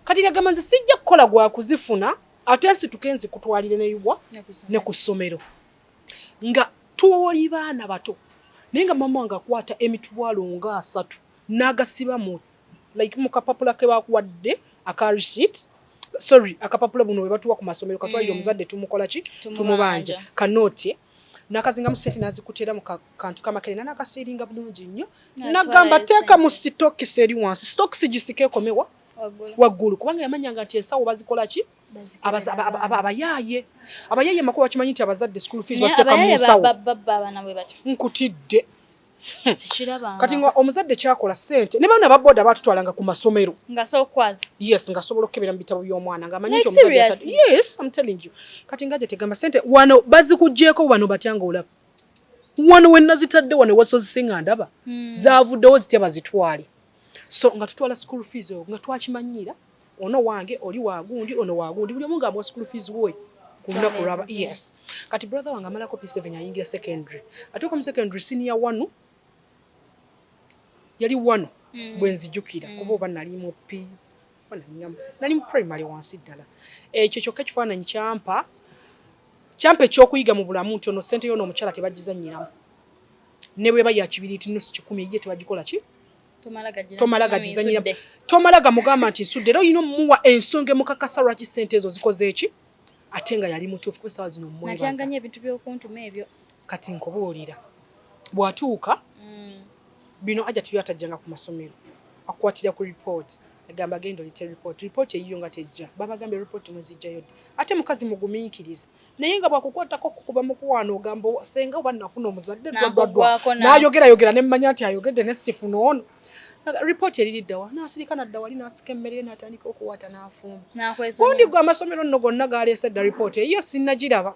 kati ngagamba nze sijja kukola gwa kuzifuna ate nsituke nzikutwalire neyuwa ne ku ssomero nga tuwoli baana bato naye nga mama wange akwata emitwalo nga asatu n'agasiba mu like mu kapapula ke bakuwadde aka receipt sorry akapapula buno bwe batuwa ku masomero katwalire mm. omuzadde tumukola ki tumubanja kanooti nakazingamu sente nazikutera mu kantu kamakerena nakasiringa bulungi nnyo nagamba teeka mu sitokisi eri wansi sitokisi gisika ekomewa waggulu kubanga yamanyanga nti ensawo bazikola ki abayaaye abayaaye makuba bakimanyi nti abazadde school fees baziteeka mu nsawo nkutidde kati nga omuzadde kyakola sente ne baana baboda batutwalanga ku masomero yes nga sobola okukebera mu bitabo by'omwana nga amanyi nti kati nga gye tegamba sente wano bazikugyeko wano batya nga olaba wano wenazitadde wano ewasozise nga ndaba hmm. zavuddewo zitya bazitwale so nga tutwala school fees oyo nga twakimanyiira ono wange oli wagundi ono wagundi buli omu nga amuwa school fees woyo kulunaku lwaba yes kati brother wange amalako p7 ayingira secondary atuuka mu secondary senior wanu yali wanu hmm. bwenzijukira hmm. kuba oba nali mu p nali mu primary wansi ddala ekyo kyokka ekifaananyi kyampa kyampa ekyokuyiga mu bulamu nti ono sente yono omukyala tebagizanyiramu ne bweba ya kibiriiti nusu kikumi eyiye tebagikola ki tomala gagizanyiramu tomala gamugamba nti nsudde era olina omuwa ensonga emukakasa lwaki sente ezo zikoze eki ate nga yali mutuufu kuba essaawa zino mumwebaza ebintu byokuntuma ebyo kati nkubuulira bw'atuuka mm. bino aja tibyatajjanga ku masomero akukwatira ku ripooti agamba genda olite ripooti ripooti eyiyo nga tejja babagambye ripooti muzijjayo ddi ate mukazi mugumiikiriza naye nga bwakukwatako kukuba mukwano ogamba senga oba nafuna omuzadde dwadwadwa nayogerayogera ne mmanya nti ayogedde ne sifuna ono Report eriri ddawa n'asirika nadda wali n'asika emmere ye n'atandika okuwaata n'afumba. Gundi gwe amasomero nno gonna gaaleese dda report eyiyo sinnagiraba.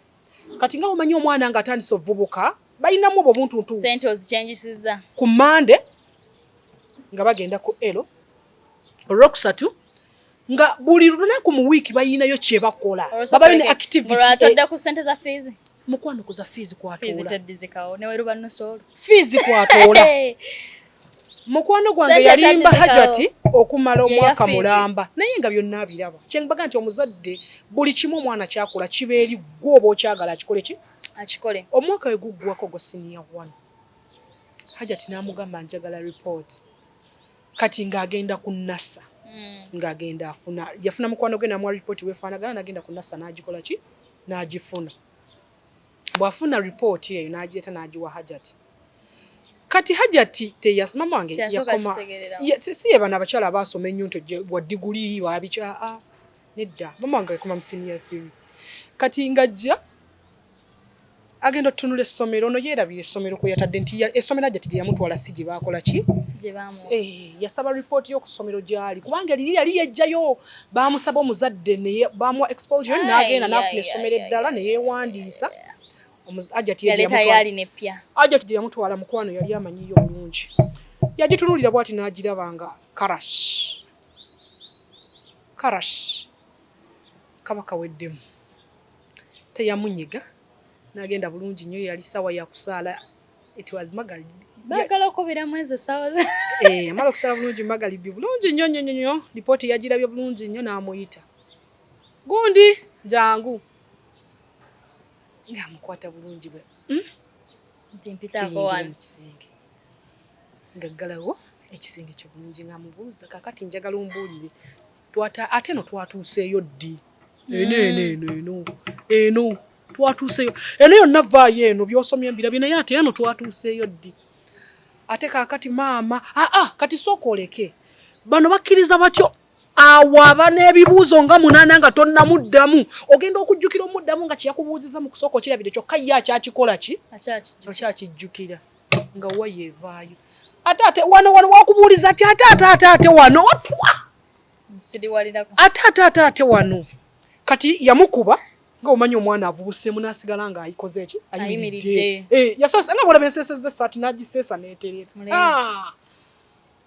Kati nga bwomanyi omwana nga atandise obuvubuka balinamu obwo buntuntu. Sente ozikyenjisiza. Ku Mande nga bagenda ku elo olwokusatu nga buli lunaku mu wiiki balinayo kyebakola babayo ne activity. Olwatadde ku sente za fiizi. Mukwano kuza fees kwatoola. Fees teddizikawo ne weruba nusoolo. Fees kwatoola. Mukwano gwange yalimba Hajati okumala omwaka mulamba naye nga byonna abiraba. Kye mbaga nti omuzadde buli kimu omwana kyakula kibeeri gwo oba okyagala akikole ki? Akikole. Omwaka we guggwako gwa siniya one. Hajati n'amugamba njagala report. kati ng'agenda ku nasa hmm. ng'agenda afuna yafuna mukwano gwe namuwa ripooti wefaanagana nagenda ku nasa n'agikola ki n'agifuna bw'afuna ripooti eyo n'agireeta n'agiwa hajati kati hajati teyas mama wange yakoma si ye bano abakyala abaasoma ennyo nti wa diguli wabiki aa nedda mama wange yakoma mu siniya theory kati ng'ajja agenda otunula essomero ono yeerabira essomero kwe yatadde nti essomero ajja ti gye yamutwala si gye baakola ki eh, yasaba ripooti yo ku ssomero gy'ali kubanga eriyo yali yejjayo baamusaba omuzadde baamuwa exposure n'agenda n'afuna essomero eddala ne yeewandiisa ajati gye yamutwala mukwano yali amanyiyo bulungi yagitunulira bwati n'agiraba nga karas karas kaba kaweddemu teyamunyiga nagenda bulungi nnyo yali sawa yakusaala it was magalib bagala okubira mwezi esawa ze eh amala okusala bulungi magalib bulungi nnyo nnyo nnyo lipooti yagirabye bulungi nnyo n'amuyita gundi jangu ng'amukwata bulungi bwe hmm? nti mpitaako wano kisenge ngaggalawo ekisenge kyo bulungi ng'amubuuza kakati njagala ombuulire Twata ate no twatuuseeyo ddi? Mm. Eno eno eno eno eno twatuuseeyo eno yonna vaayo eno by'osomye mbirabye naye ate eno twatuuseeyo ddi? Ate kaakati maama aa ah, ah, kati sooka oleke bano bakkiriza batyo awo aba n'ebibuuzo nga munaana nga tonnamuddamu ogenda okujjukira omuddamu nga kyeyakubuuziza mu kusooka okirabire kyokka ye akyakikola ki akyakijjukira nga waya evaayo ate ate wano wano wakubuuliza ati ate ate ate ate wano otwa ate ate ate ate wano kati yamukuba nga omanyi omwana avubuseemu nasigala nga ayikoze ki ayimiridde eh, yasoosa nga bwolaba enseseza esaati nagiseesa neterera ah!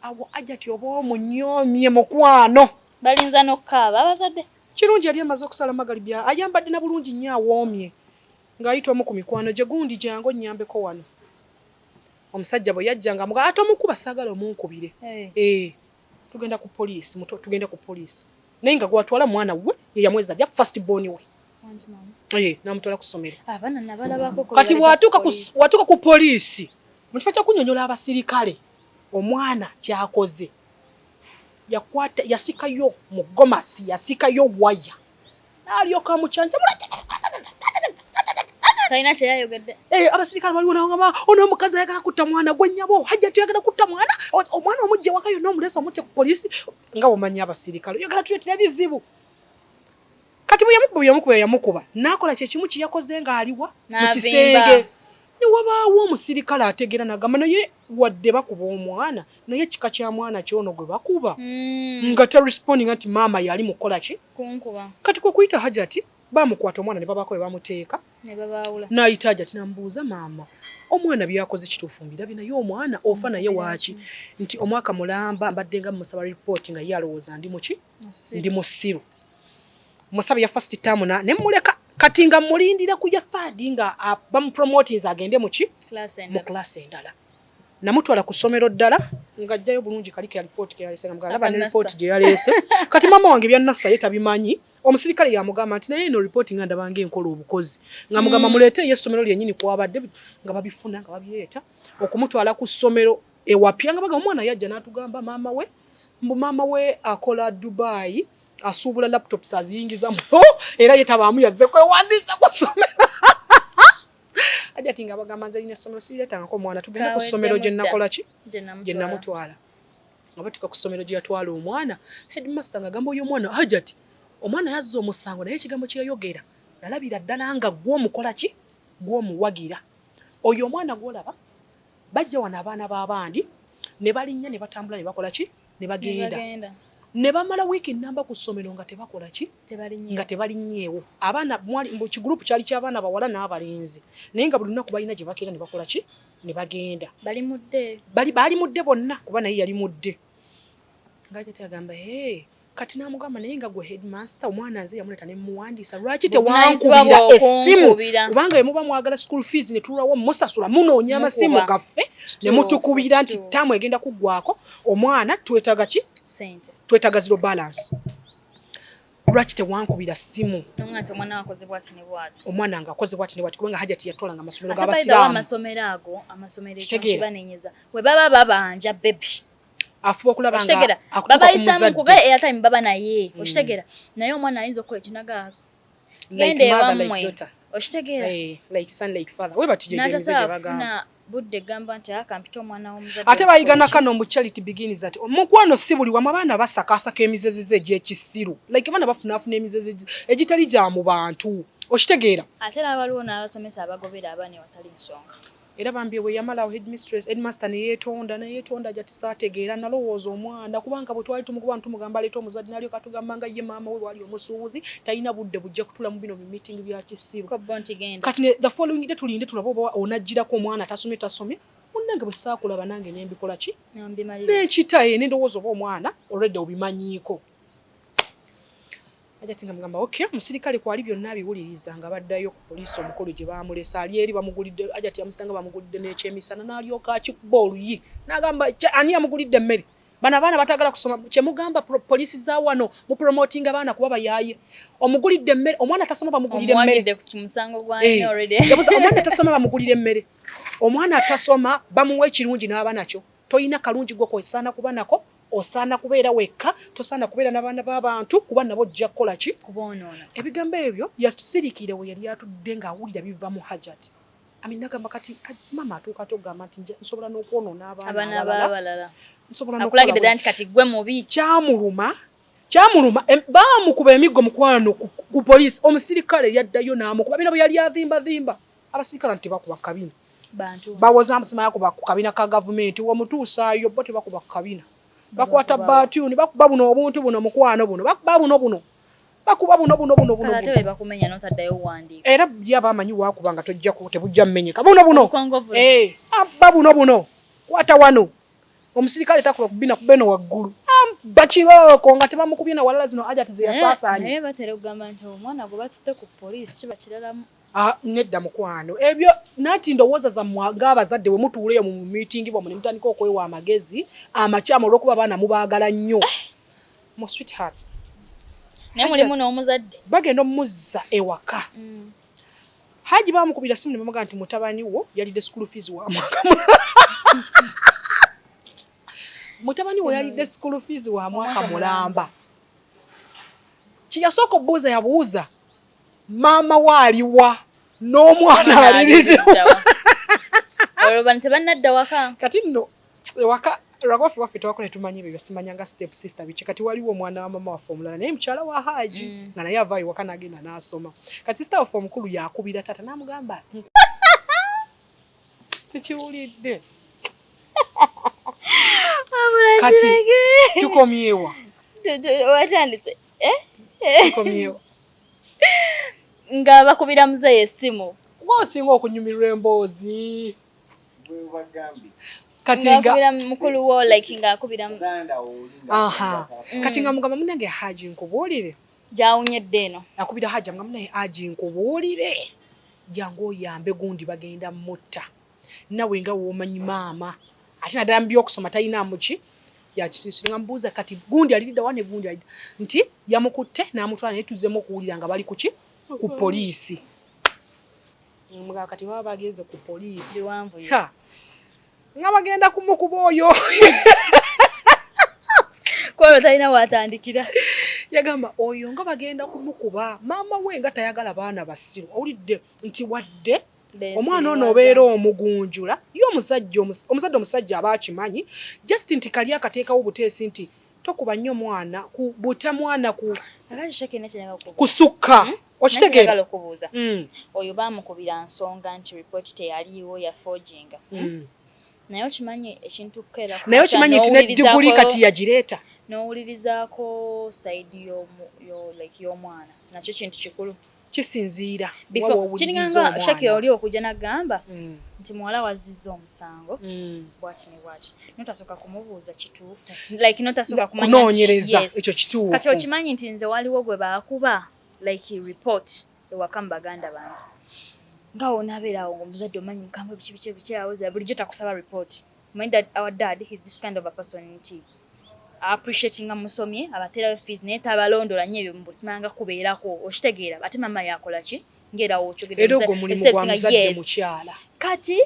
awo ajati oba omunyomye mukwano balinza nokukaaba abazadde kirungi yali amaze okusala magalibi ayambadde na bulungi nnyo awoomye Ng'ayita omu ku mikwano gye, Gundi jangu onnyambeko wano. Omusajja bwe yajja ng'amugamba, tomukuba saagala omunkubire. Eeh, tugenda ku poliisi muto, tugende ku poliisi. Naye nga gw'atwala mwana wuwe, ye yamweza ajja, first born we. Eeh, n'amutwala ku ssomero. Kati bw'atuuka ku poliisi, mu kifo ky'okunnyonnyola abasirikale omwana ky'akoze, yakwata, yasikayo mu gomasi, yasikayo waya. n'alyoka amucanjamula talina kyeyayogedde eh, abasirikale baliwo nawo ngaba ono omukazi ayagala kutta mwana gwe nyabo hajja tuyagala kutta mwana omwana omujja waka yonna omuleesa omutte ku polisi nga omanyi abasirikale oyagala tuletera bizibu kati bweyamukuba yamukuba yamukuba nakola kyekimu kyeyakoze ngaaliwa mu kisenge newabaawo omusirikale ategeera nagamba naye wadde bakuba omwana naye kika kya mwana kyono gwe bakuba mm. nga ta responding anti maama yali mukola ki kunkuba kati ko kuita hajati bamukwata omwana ne babako we bamuteeka ne babaula naita hajati nambuuza maama omwana byakoze kituufu mbirabi naye omwana ofa naye waaki nti omwaka mulamba mbadde nga musaba report nga ye alowooza ndi muki ndi musiru musabe ya first term na ne muleka kati nga mulindira kuja third nga bamupromotinze agende muki mu class endala namutwala ku ssomero ddala ng'ajjayo bulungi kali ke alipooti ke yalese nga mugamba laba ne lipooti gye yaleese kati maama wange byannassa ye tabimanyi omusirikale yamugamba nti naye eno lipooti nga ndaba nga enkola obukozi nga mugamba mm. muleete eyo essomero lyennyini kwabadde nga babifuna nga babireeta okumutwala ku ssomero ewapya nga bagamba omwana yajja n'atugamba maama we mbu maama we akola dubaayi asuubula laptops aziyingiza mu era ye tabaamu yazze kwewandiisa ku ssomero ajati nga bagamba nze lina somero siretangako omwana tugenda ku somero gye nakola ki gye namutwala nga batuka ku somero gye yatwala omwana headmaster nga gamba oyo omwana ajati omwana yazza omusango naye ekigambo kye yayogera nalabira ddala nga gwo omukola ki gwo omuwagira oyo omwana gwolaba bajja wano abaana b'abandi ne balinnya ne batambula ne bakola ki ne bagenda ne bamala wiiki nnamba ku ssomero nga tebakola ki nga tebalinyeewo abaana kigurupu kyali ky'abaana bawala n'abalenzi naye nga buli lunaku balina gye bakeera ne bakola ki ne bagenda baali mudde bonna kuba naye yali mudde ngajati agamba hey, kati namugamba naye nga gwe headmaster omwana nze yamuleta ne muwandiisa lwaki tewankubira essimu kubanga yemuba mwagala school fees ne tulwawo musasula munoonya amasimu gaffe ne mutukubira nti tamu egenda kuggwako omwana twetaga ki sente twetaga zero balance lwaki tewankubira simu omwana nga akoze bwati ne bwati kubanga hajati yatola nga amasomero gabasiramuamasomero ago amasomero ekibanenyeza we baba babanja bebi afuba okulaba nga babayisa mukuba eyatime baba naye mm. okitegera naye omwana ayinza okukola ekinaga genda ewammwe okitegeera eh, n'atasobola kufuna budde gamba nti akampita ah, omwana w'omuzadde ate bayigana kano mu charity begins ati omukwano si buli wamu abaana basakaasaka emizezeze egy'ekisiru like abaana bafunaafuna emizeze egitali gya mu bantu okitegeera ate n'abaliwo n'abasomesa abagobera abaana ewatali nsonga era bambi bwe yamala awo headmistress headmaster ne yeetonda ne yeetonda jati saategeera nalowooza omwana kubanga bwe twali tumukuba ne tumugamba aleeta omuzadde n'alyoka atugamba nga ye maama we bwali omusuubuzi talina budde bujja kutula mu bino bi meeting bya kisiru kati ne the following day tulinde tulabe oba onajjirako omwana atasomye tasomye munnange bwe saakulaba nange ne mbikola ki nekita ye nendowooza oba omwana already obimanyiiko Hajati nga mugamba okay, omusirikale kwali byonna abiwuliriza nga baddayo ku poliisi omukulu gye baamulese ali eri bamugulidde Hajati yamusanga bamugulidde n'ekyemisana n'alyoka akikuba oluyi n'agamba ani yamugulidde emmere bano abaana batagala kusoma kyemugamba poliisi za wano mu promotinga abaana kuba bayaaye omugulidde emmere omwana atasoma bamugulira emmereomwana eh. atasoma bamugulira emmere omwana atasoma bamuwa ekirungi n'aba nakyo Tolina kalungi gwe kosaana kuba nako, osaana kubeera wekka, tosaana kubeera nabaana babantu kuba nabo ojja kukola ki? Kuboonoona. Ebigambo ebyo yatusirikiira weyali atudde nga awulira biva mu Hajat. Amin nagamba kati maama atuuka atya okugamba nti nsobola nokwonoona abaana abalala? Akulagidde ddala nti kati gwe mubi. Kyamuluma kyamuluma baamukuba emiggo mukwano ku poliisi omusirikale yaddayo n'amukuba bino bwe yali avimbavimba. abasirikale nti tebakuba kabina bawoza mbusimaya kuba ku kabina ka gavumenti womutuusaayo bo tebakuba ku kabina bakwata batuni bakuba buno obuntu buno mukwano buno bakuba buno buno bakuba buno buno buno buno ate bebakumenya notaddayo owandiika era buli aba amanyi wakuba nga tojja tebujja mmenyeka buno buno eh, abba buno buno kwata wano omusirikale takuba kubina kubeno waggulu bakirooko nga tebamukubye na walala zino ajati zeyasaasaanye naye batera okugamba nti omwana gwe batutte ku poliisi kiba kiralamu Ah, nedda mukwano ebyo nanti ndowooza zammwe ng'abazadde bwe mutuula eyo mu mumitingi bwammwe ne mutandika okwewa amagezi amakyamu olw'okuba abaana mubaagala nnyo eh. mu sweetheart naye mulimu n'omuzadde bagenda omumuzza ewaka mm. haji bamukubira simu ne bamugaa nti mutabani wo yalidde school fees wa mwaka mutabani wo yalidde school fees wa mwaka mulamba kye yasooka obuuza yabuuza maama we aliwa n'omwana aliriwa olwo bano tebannadda waka kati nno ewaka lwakuba ffe waffe tewakula tumanya ebyo byasimanyanga step sister biki kati waliwo omwana wa mama waffe omulala naye mukyala wa haaji mm. nga naye avaayo waka nagenda n'asoma kati sister waffe omukulu yakubira taata n'amugamba tekiwulidde kati tukomyewa watandise eh? eh. nga bakubira muzeeyi essimu gwe osinga okunyumirwa emboozi kati nga mukulu wo like nga akubira aha mm. kati nga mugamba munange haji nkubuulire gyawunyedde eno akubira haji mugamba naye haji nkubuulire jangu oyambe gundi bagenda mutta nawe nga womanyi maama ate naddala mu byokusoma talinaamu ki yakisiisira nga mubuuza kati gundi aliridda wa ne gundi alidda nti yamukutte n'amutwala naye tuzzemu okuwulira nga bali kuki ku poliisi mugamba kati baba bagenze ku poliisi nga bagenda kumukuba oyo kwolwo talina watandikira yagamba oyo nga bagenda kumukuba maama we nga tayagala baana basiru owulidde nti wadde omwana ono obeera omugunjula ye omusajja omuzadde omusajja aba akimanyi just nti kali akateekawo obuteesi nti tokuba nnyo mwana ku buta mwana ku kusukka hmm? okitegeera okubuuza hmm. oyo baamukubira nsonga nti ripooti teyaliiwo ya foginga hmm? naye okimanyi ekintu kukeera naye okimanyi nti ne diguli kati yagireeta n'owulirizaako sayidi y'omwana nakyo kintu kikulu kisinziira kiringanga shaki oli okujja nagamba mm. nti muwala wazizza omusango mm. bwati ne bwati notasooka kumubuuza kituufu like notasooka kunoonyereza ekyo kituufu kati okimanyi nti nze waliwo gwe baakuba like report ewaka mu baganda bange nga wonabeera awo ngaomuzadde omanyi mukambwe biki biki biki awoza bulijjo takusaba report My dad, our dad is this kind of a person nti appreciatinga musomye abaterayo fees naye tabalondola nyo ebyo mbusimanga kubeerako okitegeera ate mama yakola ki ngera wokyogedmukyala kati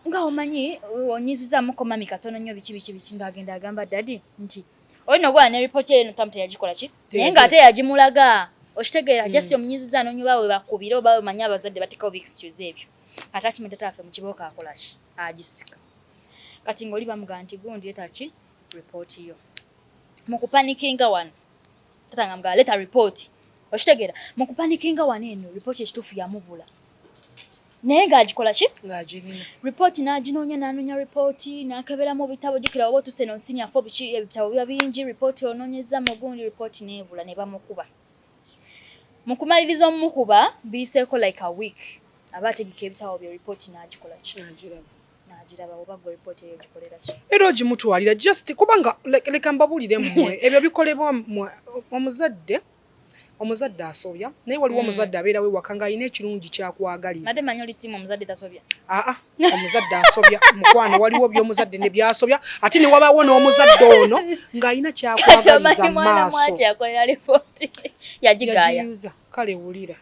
nga omanyi onyizizamu komami katono nyo biki biki biki nga agenda agamba dadi nti olina ogwala ne report eyo no tamu teyagikola ki naye nga ate yagimulaga okitegeera just mm. omunyiziza nonyoba we bakubira oba we manya abazadde batekawo bi excuse ebyo attachment taata waffe mukibooko akolaki agisika kati ngoli bamugamba nti gundi leta ki report yo mukupanikinga wano taata nga mugamba leta report okitegera mukupanikinga wano eno report ekituufu yamubula naye ng'agikola ki ripooti n'aginoonya n'anoonya ripooti n'akeberamu bitabo jukira oba otuse no nsinya fo biki ebitabo biba bingi ripooti onoonyeza mugundi ripooti n'ebula ne bamukuba Mukumaliriza omumukuba biyiseeko like a week aba ategeka ebitabo bye report nagikola ki? Nagiraba. Nagiraba oba gwe report eyo ogikolera ki? Era ogimutwalira just kubanga leka mbabulire mmwe ebyo bikolebwa mmwe omuzadde omuzadde asobya naye waliwo mm. omuzadde abeerawo ewaka ng'alina ekirungi kyakwagaliza. Made manyi oli tiimu omuzadde tasobya? Aa ah, ah. omuzadde asobya mukwano waliwo byomuzadde ne byasobya ate ne wabaawo n'omuzadde ono ng'alina kyakwagaliza maasooyagiyuza kale wulira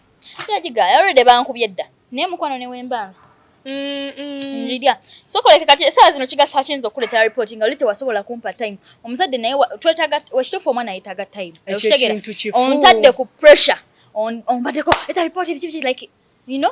yagigaya olwedde bankubye dda naye mukwano newembanza njirya sokoleke kati esaa zino kigasa kiyinza okuleeta ripoti nga oli tewasobola kumpa time omuzadde naye twetaga wakituufu omwana yetaaga time okitegera ontadde ku pressure ombadeko eta ripoti biki biki like you know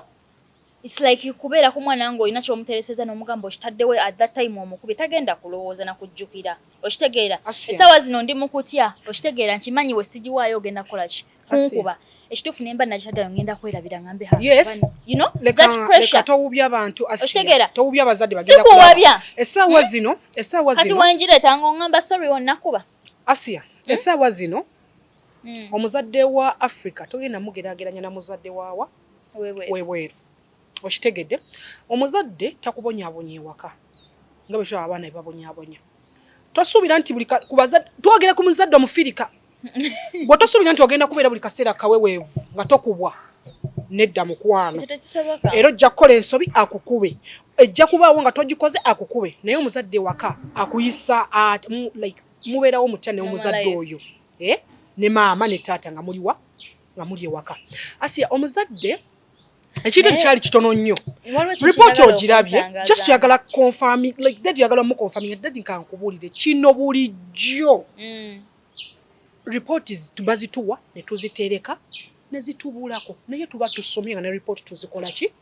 It's like kubeera ku mwana nga olina kyomutereseza nomugamba okitaddewo at that time omukubye tagenda kulowooza na kujjukira okitegeera esaawa zino ndi mukutya okitegeera nkimanyi we sigiwaayo ogenda kukola ki kunkuba ekituufu nemba nakitaddayo ngenda kwerabira ngambe ha yes you know that pressure towubya abantu okitegeera towubya abazadde bagenda sikuwabya esaawa hmm? zino esaawa zino kati wenjireeta nga ongamba sorry onakuba asia hmm? esaawa zino hmm. omuzadde wa africa togenda mugerageranya na muzadde waawa webweru okitegedde omuzadde takubonyabonye ewaka nga bwe tulaba abaana bebabonyabonya tosuubira nti buli twogera ku muzadde omufirika gwe tosuubira nti ogenda kubeera buli kaseera kaweweevu nga tokubwa nedda mukwano era ojja kukola ensobi akukube ejja kubaawo nga togikoze akukube naye omuzadde ewaka akuyisa mubeerawo mutya neomuzadde oyo eh? ne maama ne taata nga muliwa nga muli ewaka asiya omuzadde ekintu ekyali kitono nnyo ripooti ogirabye just yagala confirming like dadi yagala mu confirming dadi nkankubuulire kino bulijjo mm. ripooti bazituwa ne tuzitereka ne zitubulako naye tuba tusomye nga ne ripooti tuzikola ki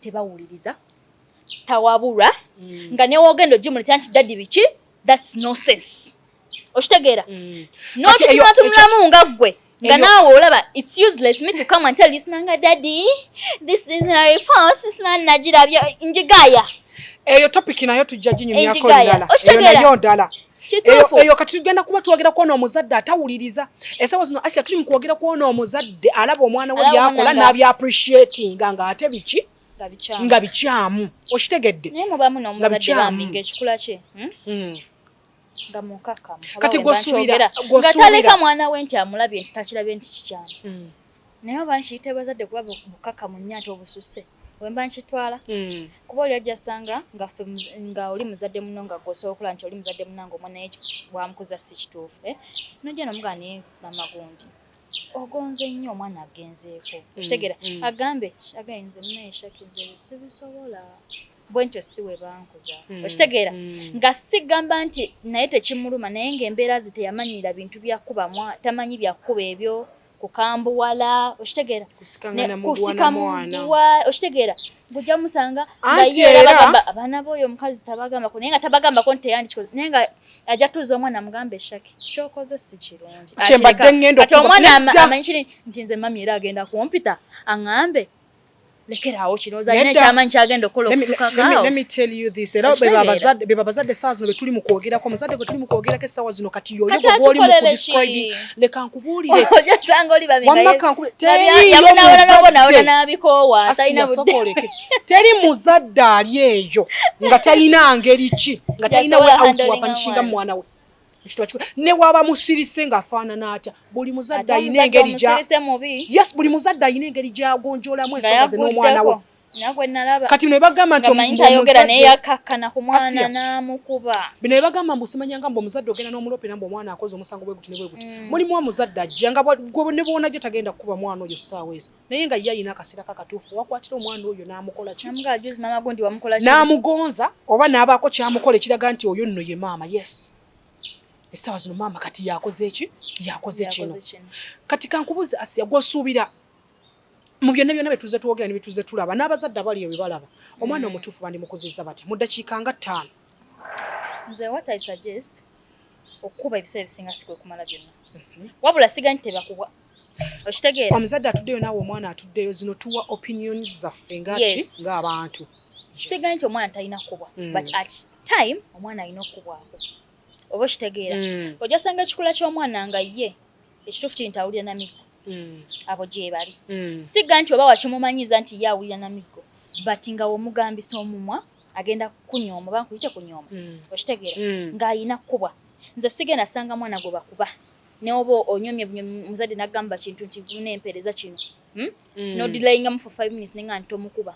tebawuliriza tawabulwa mm. nga newogenda ogimuletera nti dadi biki thats nonsense okitegeera mm. nokitunatulamu nga ggwe nga naawe olaba its useless me to come and tell isna nga dadi this is na report isna nagirabya njigaya eyo topic nayo tujja ginyumyako lala eyo nayo ndala kituufu eyo kati tugenda kuba twogera kwona omuzadde atawuliriza esawa zino asia tuli mukwogera kwona omuzadde alaba omwana we byakola nabya appreciatinga nga ate biki nga bikyamu okitegedde naye mubamu nomuzadde bambi ngaekikula kye hmm? Hmm. nga mukakamu kati gwosuubira ngataleka mwana we nti amulabye nti takirabye nti kikyamu hmm. Naye oba nkiyite bazadde kuba bukkakkamu nnyo ate obususse we mba nkitwala hmm. kuba oli ajja sanga nga oli muzadde muno nga gwe osobola okulaba nti oli muzadde munange omwana naye bwamukuza si kituufu eh? nojja nomugaa naye mama gundi ogonze nnyo omwana agenzeeko hmm, okitegera hmm. agambe againze munaye shakinze sibisobola bwentyo si we bankuza hmm, okitegeera hmm. nga sigamba nti naye tekimuluma naye ng'embeera zi teyamanyira bintu byakubamu tamanyi byakukuba ebyo kukambuwala okitegeera kusika mugiwa okitegeera ngojja musanga ngayeabagamba abaana boyo omukazi tabagambako naye nga tabagambako nti teyandikikoze naye nga ajja tuuza omwana amugamba eshaki kyokoze si kirungi omwana amanyi kiri nti nze mami era agenda kumpita aŋambe lekeraawo kino ozalina ekyamanyi kyagenda okukola okusukakaawobebabazadde esaawa zino betuli mu kwogerako omuzadde gwe tuli mu kwogerako essaawa zino kati yoyogolimukudistribing leka nkubuulireteri muzadde ali eyo nga talina ngeri ki nga talina we outwapanishinga mwana we ne waba musirise ng'afaanana atya buli muzadde alina engeri yes buli muzadde alina engeri gyagonjolamu ensonga ze n'omwana we kati bino ebagamba nti bino ebagamba mbu simanyanga mbu omuzadde ogenda n'omulope era mbu omwana akoze omusango bwe guti ne bwe guti mm. mulimu omuzadde ajja nga ne bwonajja tagenda kukuba mwana oyo ssaawa ezo naye nga ye alina akaseera kakatuufu wakwatira omwana oyo n'amukola ki n'amugonza oba n'abaako kyamukola ekiraga nti oyo nno ye maama yes essaawa zino maama kati yakoze eki yakoze kino kati kankubuuzi asiya gwosuubira mu byonna byonna byetuze twogera ne byetuze tulaba n'abazadde abali ebyo balaba omwana mm. omutuufu bandimukuzizza batya mu ddakiika nga ttaano nze what i suggest okukuba ebiseera ebisinga sikwekumala byonna mhm. wabula siga nti tebakubwa okitegeera omuzadde atuddeyo naawe omwana atuddeyo zino tuwa opinion zaffe ngaki ngaabantu sigaye nti omwana talina kubwa mm. but at time omwana alina okukubwako oba okitegeera mm. ojasanga ekikula ky'omwana nga ye ekituufu kiri nti awulira namiggo mm. abo gyebali siga nti oba wakimumanyiza nti ye awulira namiggo but nga womugambisa omumwa agenda kunyooma oba nkuyite kunyooma okitegeera ng'alina kukubwa nze sigenda sanga mwana gwe bakuba neoba onyomye bunyomi muzadde nagamba kintu nti muna empereza kino hmm? mm. nodilayingamu for five minutes nenga nti tomukuba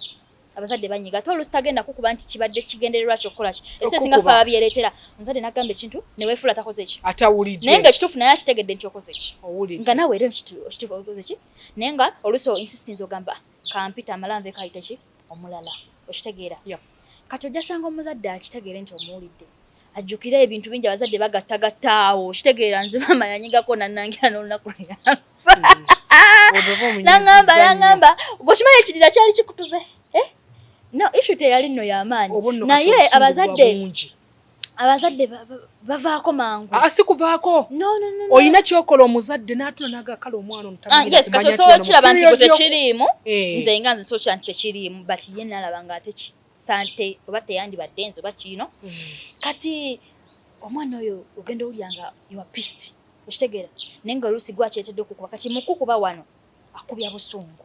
abazadde banyiga ate olusi tagenda kukuba nti kibadde kigendererwa kyo okukola ki ese singa fa babyereetera omuzadde nagamba ekintu newefuula takoze ki atawulidde naye nga ekituufu naye akitegedde nti okoze ki nga nawe era okituufu okoze ki naye nga olusi insistence ogamba kampite amala nve kayite ki omulala okitegeera kati ojja sanga omuzadde akitegeere nti omuwulidde ajjukire ebintu bingi abazadde bagattagatta awo okitegeera nze maama yanyigako nanangira n'olunaku lweyansa mm. nangamba nangamba gwekimanyi ekirira kyali kikutuze eh? no ishu teyali nno yamaanyi naye abazadde abazadde bavaako mangu ah, si kuvaako olina kyokola omuzadde natula naga kale omwana omutakiraba ah, nti gwe tekiriimu eh. nze nga nze sokira nti tekiriimu but ye nalaba nga ate sante oba teyandibadde nze oba kiino mm. kati omwana oyo ogenda owulira nga iwa pist okitegeera naye nga oluusi gwakyetedde okukuba kati mukukuba wano akubya busungu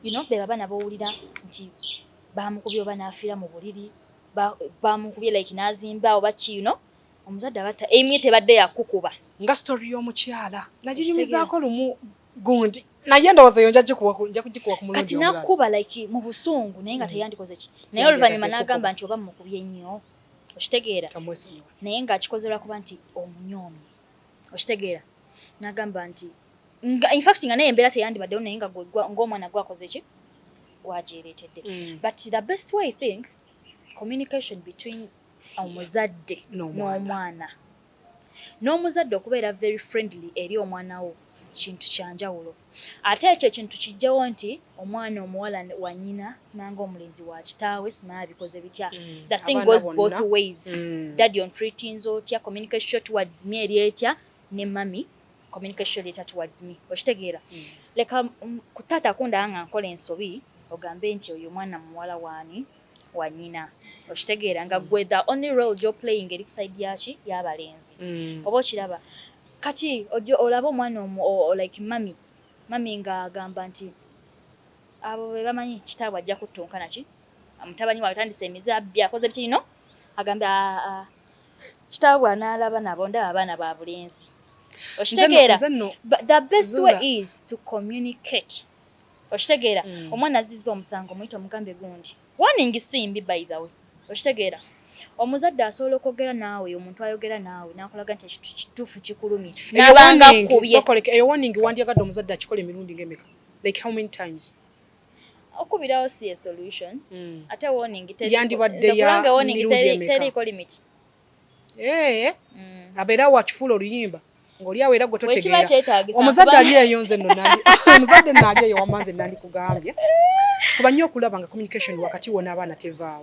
ino beba bana bowulira nti bamukubya oba nafiira mu buliri ba bamukubye like nazimba oba ki you know omuzadde abatta aim ye tebadde yakukuba nga story y'omukyala naginyumizaako lumu gundi naye ndowooza eyo nja kugikuwa ku mulungi omulala kati nakuba like mu busungu naye nga mm. teyandikoze ki naye oluvannyuma n'agamba nti oba mukubye nnyo okitegeera naye ng'akikoze lwakuba nti omunyoomi okitegeera n'agamba nti nga in fact nga naye embeera teyandibaddewo naye nga ng'omwana gwakoze ki gwagyereetedde mm. but the best way i think communication between omuzadde n'omwana n'omuzadde okubeera very friendly eri omwana wo kintu kyanjawulo ate ekyo ekintu kijjawo nti omwana omuwala wa nyina simanga omulenzi wa kitaawe simaa bikoze bitya mm. the thing goes both ways mm. daddy on treatings otya communication towards me eri etya ne mami communication letter towards me okitegeera mm. leka um, ku taata akundaa nga nkola ensobi ogambe nti oyo omwana muwala waani wanyina okitegeera nga gwe the only role jo playing eri kusaidi yaki yabalenzi mm. oba okiraba kati ojo olaba omwana omu like mami mami nga agamba nti abo bebamanyi kitaabwe ajja kuttunka naki mutabani waatandisa emize abbi akoze bikirino agambe aa ah, ah, kitaabwe anaalaba nabo ndaba abaana ba bulenzi okitegeera the best way is to communicate okitegeera mm. omwana azizza omusango muyita omugambe gundi warning simbi by the way okitegeera omuzadde asobola okwogera naawe omuntu ayogera naawe nakulaga nti ekintu kituufu kikulumye nabanga kubyeeyo warning wandyagadde omuzadde akikola emirundi ngemeka like how many times okubirawo si ye solution mm. ate warning yandibadde ya warning teriiko limit eh mm. abera wakifula oluyimba ngoli awo era gwe totegeera omuzadde ali eyo nze no nandi omuzadde nali eyo wamanze nandi kugambye kuba nnyo okulaba nga communication wakati wona abaana tevaawo